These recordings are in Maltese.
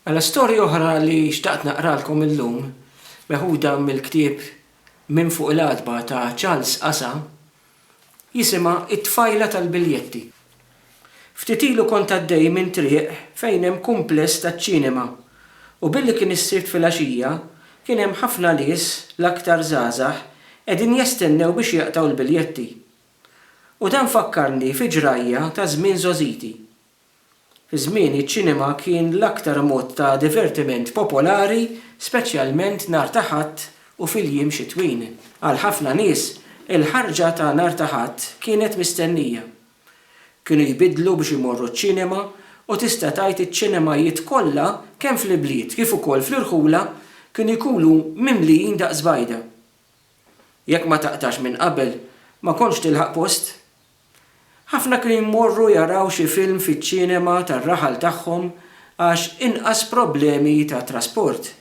Mela storja oħra li xtaqt naqralkom illum, meħuda mill-ktieb Minn Fuq il-Għatba ta' Charles Asa, jisimha It-Tfajla tal-Biljetti. Ftit ilu kont għaddej minn triq fejn hemm kumpless taċ-ċinema u billi kien is-Sibt filgħaxija kien hemm ħafna nies, l-aktar żgħażagħ, qegħdin jestennew biex jaqtgħu l-biljetti. U dan fakkarni fi ġrajja ta' żmien żgħożiti. Fi żmieni ċ-ċinema kien l-aktar mod ta' divertiment popolari speċjalment nhar ta' Ħadd u fil-jiem xitwin. Għal ħafna nies, il-ħarġa ta' nhar ta' Ħadd kienet mistennija. Kienu jbiddlu biex imorru ċ-ċinema u tista' tgħid iċ-ċinemajiet kollha kemm fl-ibliet kif ukoll fl-irħula kienu jkunu mimlijin daqs bajda. Jekk ma taqtax minn qabel, ma kontx tilħaq post Ħafna kienu jmorru jaraw xi film fiċ-ċinema tar-raħal tagħhom għax inqas problemi ta' trasport.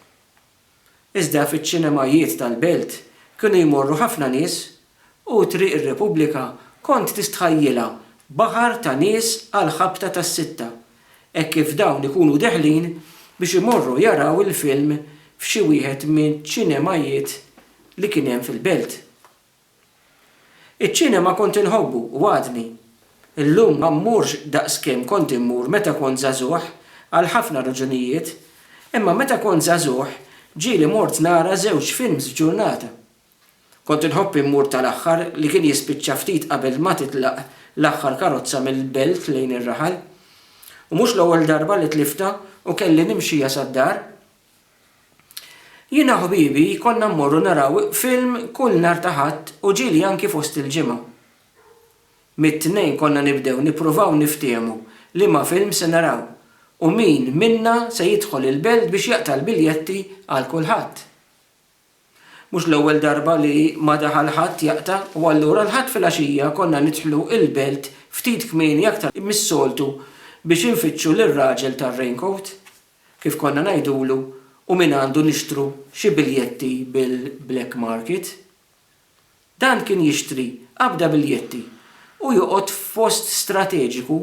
Iżda fiċ-ċinemajiet tal-belt kienu jmorru ħafna nies u Triq ir-Repubblika kont tistħajjilha baħar ta' nies għall-ħabta tas-sitta hekk kif dawn ikunu deħlin biex imorru jaraw il-film f'xi wieħed miċ-ċinemajiet li kien hemm fil-belt. Iċ-ċinema kont inħobbu u għadni. Illum ma mmurx daqskemm kont immur meta kont żagħżugħ għal ħafna raġunijiet, imma meta kont żagħżugħ ġieli mort nara żewġ films f'ġurnata. Kont inħobb immur tal-aħħar li kien jispiċċa ftit qabel ma titlaq l-aħħar karozza mill-belt lejn ir-raħal. U mhux l-ewwel darba li tliftha u kelli nimxija sad-dar. Jiena u ħbibi konna mmorru naraw film kull nhar ta' Ħadd u ġieli anki fost il-ġimgħa. Mit-Tnejn konna nibdew nippruvaw niftiehmu liema film se naraw u min minna se jidħol il-belt biex jaqta' l-biljetti għal kulħadd. Mhux l-ewwel darba li ma daħal ħadd jaqta' u allura l-Ħadd filgħaxija konna nidħlu il-belt ftit kmieni aktar mis-soltu biex infittxu lir-raġel tar-raincoat. kif konna ngħidulu, u minn għandu nixtru xi biljetti bil-black market. Dan kien jixtri qabda biljetti u joqgħod f'post strateġiku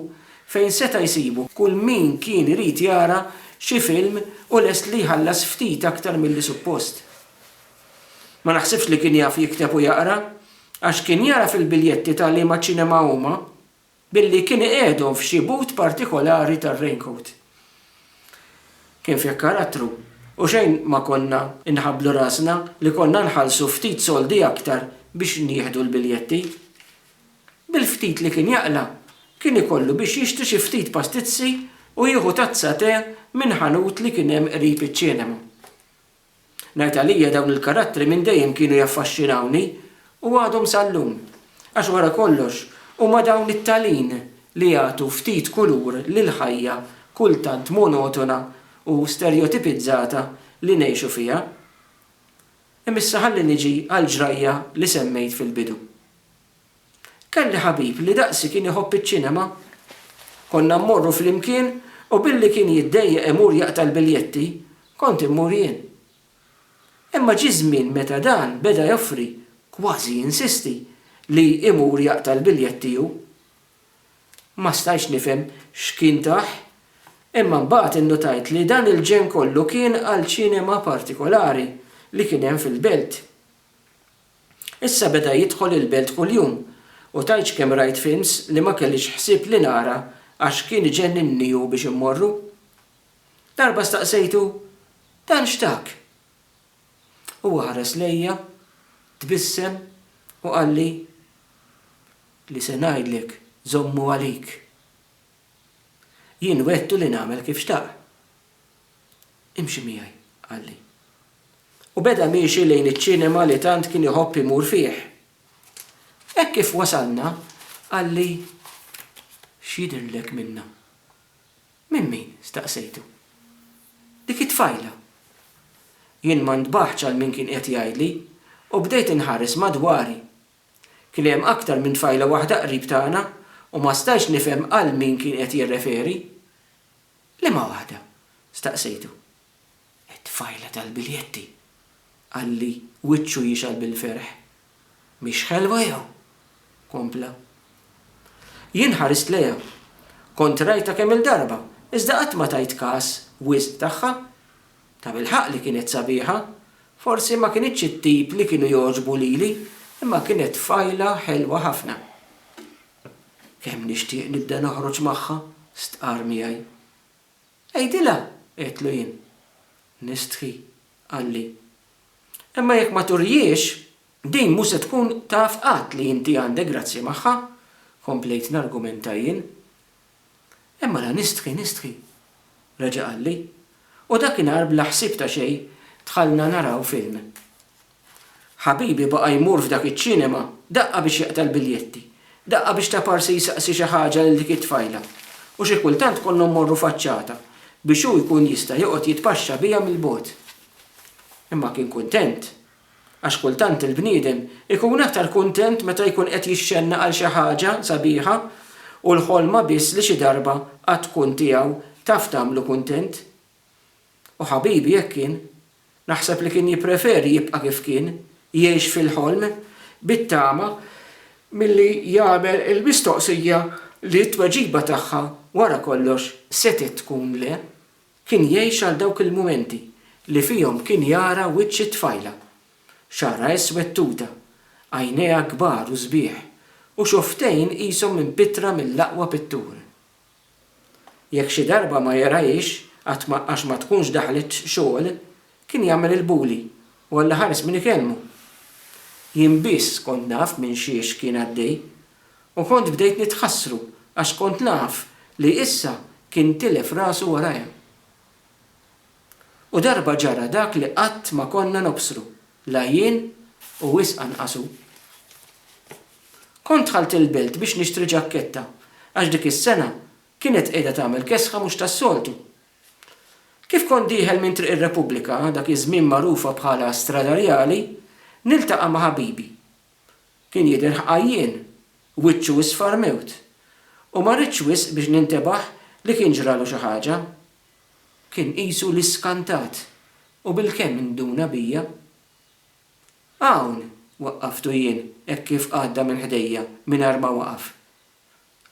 fejn seta' jsibu kull min kien irid jara xi film u lest li jħallas ftit aktar milli suppost. Ma naħsibx li kien jaf jikteb u jaqra, għax kien jagħraf il-biljetti ta' liema ċinema huma Billi kien iqiegħdhom f'xi but partikolari tar-raincoat. Kien fih karattru u xejn ma konna nħabblu rasna li konna nħallsu ftit soldi aktar biex nieħdu l-biljetti. Bil-ftit li kien jaqla' kien ikollu biex jixtri xi ftit pastizzi u jieħu tazza tè minn ħanut li kien hemm qrib iċ-ċinema. Ngħid għalija dawn il-karattri minn dejjem kienu jaffaxxinawni u għadhom sal-lum. Għax wara kollox huma dawn it-talin li jagħtu ftit kulur lill-ħajja kultant monotona u sterjotipizzata li ngħixu fiha. Imma issa ħalli niġi għall-ġrajja li semmejt fil-bidu. Kelli ħabib li daqsi kien iħobb iċ-ċinema. Konna mmorru flimkien u billi kien jiddejjaq imur jaqta' l-biljetti, kont immur jien. Imma ġie żmien meta dan beda joffri, kważi jinsisti, li imur jaqta' l-biljetti hu. Ma stajtx nifhem x'kien tah, imma mbagħad innutajt li dan il-ġenn kollu kien għal ċinema partikolari li kien hemm fil-belt. Issa beda jidħol il-belt kuljum u tgħidx kemm rajt films li ma kellix ħsieb li nara għax kien iġenninni hu biex immorru. Darba staqsejtu, Dan x'tak? Huwa ħares lejja, tbissem u qalli, Li se ngħidlek żommu għalik. Jien wegħdtu li nagħmel kif xtaq. Imxi miegħi, qalli. U beda miexi lejn iċ-ċinema li tant kien iħobb imur fih. Hekk kif wasalna, qalli, X'jidhirlek minnha? Minn min? staqsejtu. Dik it-tfajla. Jien ma ntbaħtx għal min kien qiegħed jgħidli u bdejt inħares madwari. Kien hemm aktar minn tfajla waħda qrib tagħna u ma stajtx nifhem għal min kien qed jirreferi. Liema waħda? staqsejtu. It-tfajla tal-biljetti, qalli, wiċċu jixgħal bil-ferħ. Mhix ħelwa jew? kompla. Jien ħarist lejha. Kont rajtha kemm-il darba, iżda qatt ma tajt kas wisq tagħha. Tabilħaqq li kienet sabiħa. Forsi ma kinitx it-tip li kienu jogħġbu lili, imma kienet tfajla ħelwa ħafna. Kemm nixtieq nibda noħroġ magħha, stqarr miegħi. Għidilha, għedtlu jien. Nistħi, qalli. Imma jekk ma turihiex, din mhu se tkun taf qatt li inti għandek grazzja magħha, komplejt nargumenta jien. Imma la nistħi, nistħi, reġa' qalli. U dakinhar bla ħsieb ta' xejn dħalna naraw film. Ħabibi baqa' jmur f'dak iċ-ċinema, daqqa biex jaqta' l-biljetti, daqqa biex ta' parsi jsaqsi xi ħaġa lil dik it-tfajla, u xi kultant konna mmorru faċċata biex hu jkun jista' joqgħod jitpaxxa biha mill-bogħod. Imma kien kuntent. Għax kultant il-bniedem ikun aktar kuntent meta jkun qed jixxenna għal xi ħaġa sabiħa u l-ħolma biss li xi darba għad tkun tiegħu taf tagħmlu kuntent. U ħabibi hekk kien. Naħseb li kien jippreferi jibqa' kif kien, jgħix fil-ħolm, bit-tama, milli jagħmel il-mistoqsija li t-tweġiba tagħha wara kollox setgħet tkun le. Kien jgħix għal dawk il-mumenti li fihom kien jara wiċċ it-tfajla. Xagħarha iswed tuta, għajnejha kbar u sbieħ, u xofftejn qishom impittra mill-aqwa pittur. Jekk xi darba ma jergħix għax ma għax ma tkunx daħlet xogħol, kien jagħmel il-bully u Alla ħares min ikellmu. Jien biss kont naf minn xiex kien għaddej u kont bdejt nitħassru għax kont naf li issa kien tilef rasu warajja. U darba ġara dak li qatt ma konna nobsru, la jien u wisq anqas hu. Kont dħalt il-belt biex nixtri ġakketta għax dik is-sena kienet qiegħda tagħmel kesħa mhux tas-soltu. Kif kont dieħel minn Triq ir-Repubblika, dak iż-żmien magħrufa bħala Strada Rjali, niltaqa' ma' ħabibi. Kien jidher ħqajjien, wiċċu isfar mewt, u ma ridtx wisq biex nintebaħ li kien ġralu xi ħaġa. kien qisu li skantat u bilkemm induna bija. Hawn! waqqaftu jien hekk kif għadda minn ħdejja mingħajr ma waqaf.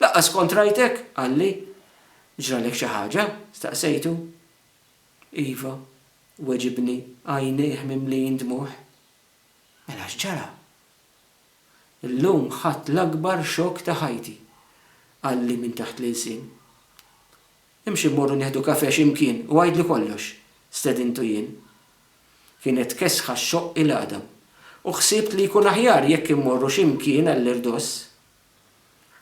Lanqas kont rajtek! qalli. Ġralek xi ħaġa? staqsejtu. Iva, weġibni, għajnejh mimlijin dmugħ. Mela x'ġara? Illum ħadt l-akbar xokk ta' ħajti, qalli minn taħt l-ilsien. Imxi mmorru nieħdu kafè xi mkien u għidli kollox, stedintu jien. Kienet kesħa xxoqq il-għadam u ħsibt li jkun aħjar jekk immorru xi mkien għall-irdoss.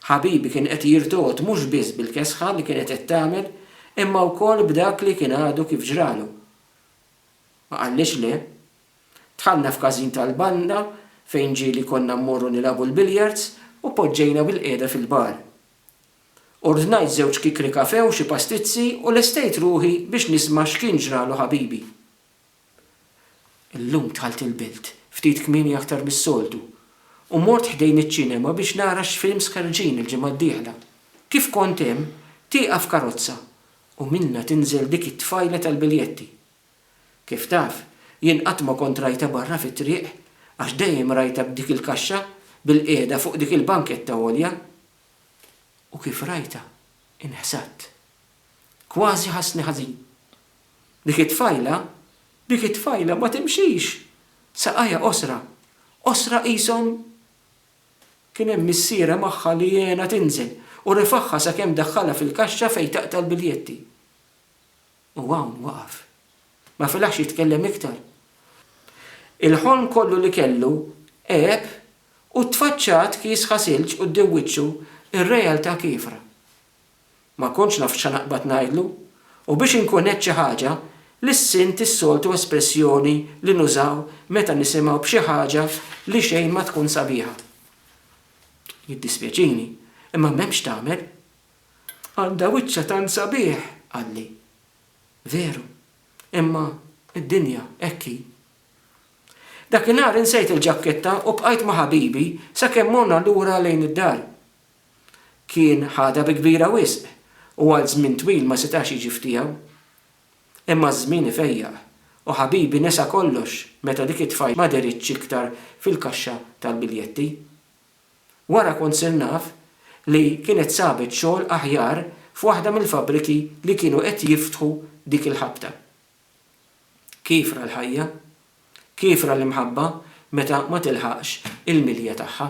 Ħabibi kien qed jirtogħod mhux biss bil-kesħa li kienet qed tagħmel imma wkoll b'dak li kien għadu kif ġralu. Ma qallix le. Dħalna f'każin tal-banda fejn ġieli konna mmorru nilagħbu l-billiards u poġġejna bilqiegħda fil-bar. Ordnajt żewġ kikri kafè u xi pastizzi u lestejt ruħi biex nisma' x'kien ġralu ħabibi. Illum dħalt il-belt ftit kmieni aktar mis-soltu u mort ħdejn iċ-ċinema biex nara x'films ħerġin il-ġimgħa d-dieħla. Kif kont hemm, tieqaf karozza u minnha tinżel dik it-tfajla tal-biljetti. Kif taf, jien qatt ma kont rajtha barra fit-triq għax dejjem rajtha b'dik il-kaxxa bil-qiegħda fuq dik il-banketta għolja. u kif rajtha inħsadt. Kważi ħassni ħażin. Dik it-tfajla, dik it-tfajla ma timxix! Saqajha qosra, qosra qishom Kien hemm missierha magħha li għenha tinżel u refagħha sakemm daħħalha fil-kaxxa fejn taqta' l-biljetti. U hawn waqaf. Ma felaħx jitkellem iktar. Il-ħolm kollu li kellu għeb u t-tfaċċat kies ħa silġ quddiem wiċċu, ir-realtà kiefra. Ma kontx naf x'ħa naqbad ngħidlu, u biex inkun għedt xi ħaġa, lissint is-soltu espressjoni li nużaw meta nisimgħu b'xi ħaġa li xejn ma tkun sabiħa. Jiddispjaċini, imma m'hemm x'tagħmel. Għandha wiċċha tant sabiħ! qalli. Veru, imma d-dinja hekk hi. Dakinhar insejt il-ġakketta u bqajt ma' ħabibi sakemm morna lura lejn id-dar. Kien ħadha bi kbira wisq u għal żmien twil ma setax jiġi f'tiegħu. Imma ż-żmien ifejjaq u ħabibi nesa kollox meta dik it-tfajla ma deritx iktar fil-kaxxa tal-biljetti. Wara kont sirt naf li kienet sabet xogħol aħjar f'waħda mill-fabbriki li kienu qed jiftħu dik il-ħabta. Kiefra l-ħajja. Kiefra l-imħabba meta ma tilħaqx il-milja tagħha.